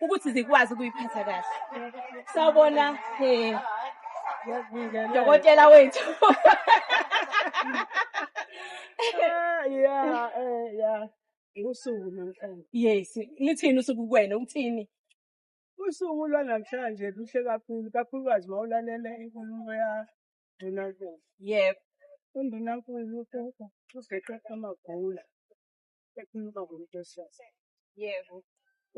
ukuthi zikwazi ukuyiphatha kahle sawubona um dokotela wethu yeah eh yeah usuku namhlanje yes lithini usuku kuwena uthini usuku lwanamhlanje luhle kakhulu kakhulukazi uma ulalele inkulumo ya Ndunankulu. Yebo. UNdunankulu uGeqe Amagula. ekhuluma ngomuntu wesifazane. Yebo.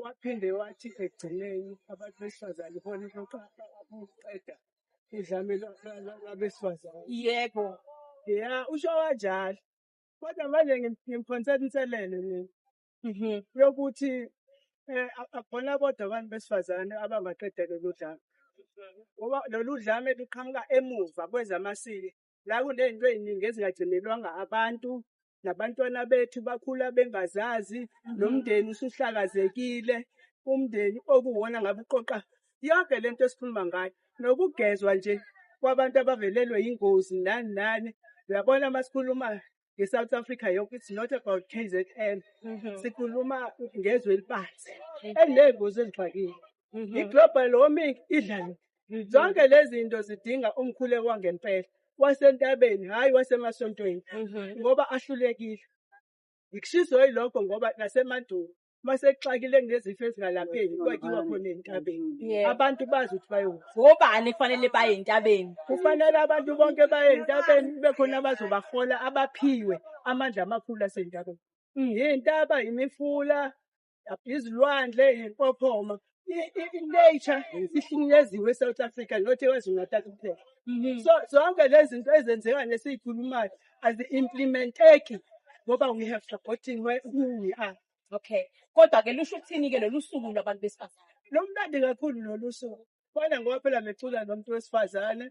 Waphinde wathi ekugcineni abantu besifazane ibona ukuqeda udlame lwabesifazane. Yebo. Ya, usho kanjalo. Kodwa manje ngimphonsela inselelo mina. Mhm. Yokuthi eh akubona bodwa abantu besifazane abangaqeda lolu dlame. Ngoba lolu dlame luqhamuka emuva kwezamasiko la kunento eziningi ezingagcinelwanga abantu nabantwana bethu bakhula bengazazi nomndeni usuhlakazekile umndeni okuwona ngabe uqoqa yonke lento esikhuluma ngayo nokugezwa nje kwabantu abavelelwe yingozi nani nani uyabona masikhuluma nge-south africa yonke it's not about k z n mhm. sikhuluma ngezwe elibanzi eliney'ngozi ezixakile mhm. i-global warming idlalo mhm. zonke lezi zinto zidinga umkhuleko wangempela wasentabeni hhayi wasemasontweni ngoba ahlulekile ngikushizoyi lokho ngoba nasemandulo uma sekuxakile kunezifo ezingalapheki kwakiwa khona entabeni Yeah. abantu bazi ukuthi bayokuphi ngobani kufanele baye entabeni kufanele abantu bonke baye entabeni kube khona abazobahola abaphiwe amandla amakhulu asentabeni yintaba yimifula izilwandle yimpophoma i- i- i-nature ihlunyeziwe e-south africa not ekwazulu-natal kuphela Mhm. so zonke lezi zinto ezenzeka nesiyikhulumayo azi-implementeki ngoba we have supporting where who we are Okay. Kodwa ke lusho ukuthini ke lolu suku lwabantu besifazane? lumnandi kakhulu lolu suku kwana ngoba phela mecula nomuntu wesifazane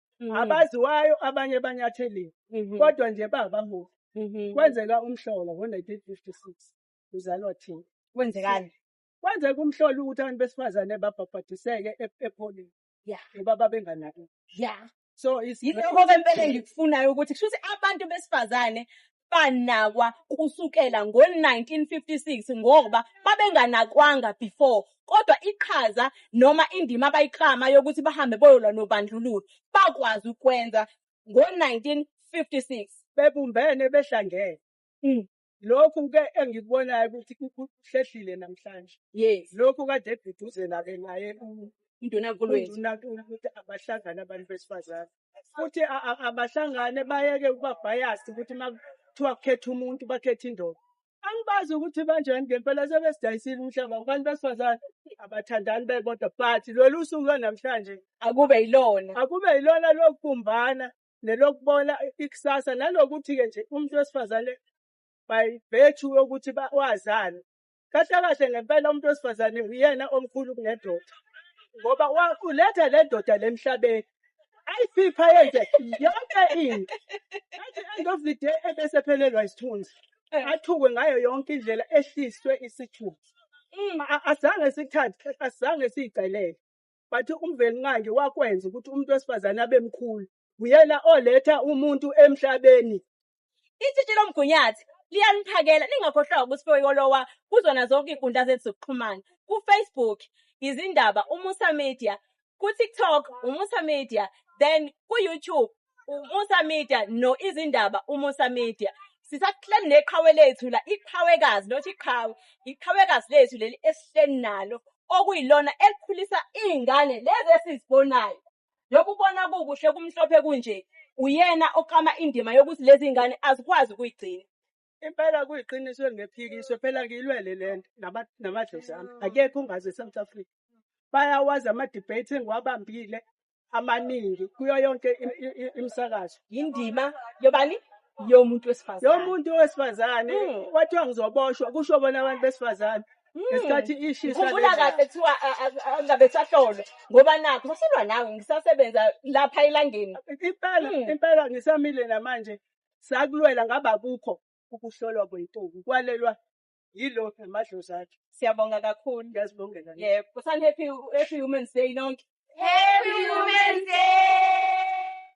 Mhm. abaziwayo abanye banyatheliwe Mhm. kodwa nje bangabaholi Mhm. kwenzeka umhlola ngo-1956 uzalwa thina Kwenzekani? kwenzeka umhlola ukuthi abantu besifazane babhabhadiseke e- epholini Ya. ngoba babenganaki Ya. so is- Yilokho ke impela engikufunayo ukuthi kusho ukuthi abantu besifazane banakwa kusukela ngo-1956 ngoba babenganakwanga before kodwa iqhaza noma indima abayiklama yokuthi bahambe boyolwa nobandlululo bakwazi ukwenza ngo-1956 bebumbene behlangene mm. lokhu ke engikubonayo ukuthi kuhlehlile namhlanje yes lokhu kade eguduzela ke naye uNdunankulu wethu uNdunankulu ukuthi abahlangane abantu besifazane futhi a- a- abahlangane bayeke ukuba biased ukuthi uma kuthiwa kukhetha umuntu bakhethe indoda angibazi ukuthi banjani ngempela sebesidayisile umhlaba abantu besifazane abathandani bebodwa but lolu usuku lwanamhlanje akube yilona akube yilona lokubumbana nelokubona ikusasa nalokuthi-ke nje umuntu wesifazane by virtue yokuthi ba- wazani Kahle kahle ngempela umuntu wesifazane uyena omkhulu kunendoda ngoba wa- uletha le ndoda le emhlabeni ayiphipha yenze yonke into at the end of the day ebese phelelwa isithunzi Eh. athukwe ngayo yonke indlela ehliswe isithunzi Mm. A- azange sikuthathe asizange siyicelele but umvelinqangi wakwenza ukuthi umuntu wesifazane abe mkhulu uyena oletha umuntu emhlabeni. Itshitshi lomgunyathi liyaniphakela ningakhohlwa ukuthi Foyikolowa kuzona zonke iy'nkundla zethu zokuxhumana ku-Facebook izindaba uMusa Media ku-TikTok uMusa Media then ku-YouTube uMusa Media no izindaba uMusa Media sisahleli neqhawe lethu la iqhawekazi not iqhawe iqhawekazi lethu leli esihleli nalo okuyilona elikhulisa iy'ngane lezi esizibonayo Yokubona kukuhle kumhlophe kunje, uyena oklama indima yokuthi lezi ngane azikwazi ukuyigcina. Impela kuyiqiniso elingephikiswe phela ngiyilwele le nto nama- namadlozi ami akekho ongazi e-south africa bayawazi ama-debate engiwabambile amaningi kuyo yonke im- i- i- imisakazo Yindima yobani? Yomuntu wesifazane. yomuntu wesifazane Mm. wathiwa ngizoboshwa kusho bona abantu besifazane isikhathi ishisa ngikhumbula lena. kahle kuthiwa a- a- a- angabe sahlolwa ngoba nakho basolwa nawe ngisasebenza lapha elangeni impela Mm. impela ngisamile namanje sakulwela ngaba kukho ukuhlolwa kwentombi kwalelwa yilo namadlozi akhe siyabonga kakhulu ngiyazibongela nje. yebo kusani happy happy women's day nonke Happy Women's Day!